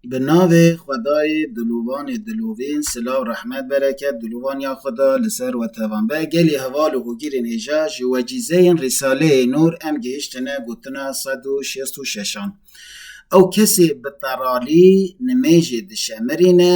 Bi navê xwedayê Dilovanê Dilovîn silav rehmet bereket dilovan ya xwe da li ser we tevan be gelê heval û hogîrên hêja ji wecîzeyên Rîsaleyê Nûr em gihiştine gotina sed û şêst û şeşan ew kesê bi teralî nimêjê dişemirîne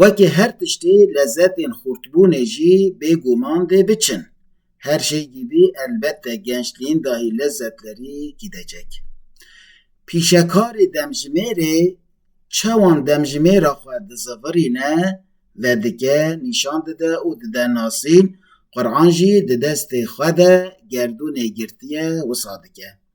Wekî her tiştî lezetên xurtbûnê jî bêguman dê biçin. Her şey gibi elbette gençliğin dahi lezzetleri gidecek. Pîşekarê demjimêrê çawan demjimêra xwe dizivirîne ve dike nîşan dide û dide nasîn, Qur'an jî di destê xwe de gerdûnê girtiye wisa dike.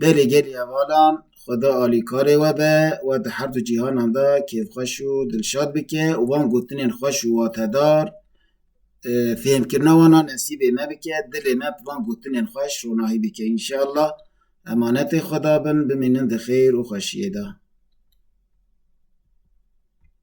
Belê gelê hevalan, Xweda alîkarê we be, we di her du cîhanan de kêfxweş û dilşad bike û van gotinên xweş û watedar fêhmkirina wan a nesîbê me bike, dilê me bi van gotinên xweş ronahî bike înşeallah. Emanetê Xweda bin, bimînin di xêr û xweşiyê de.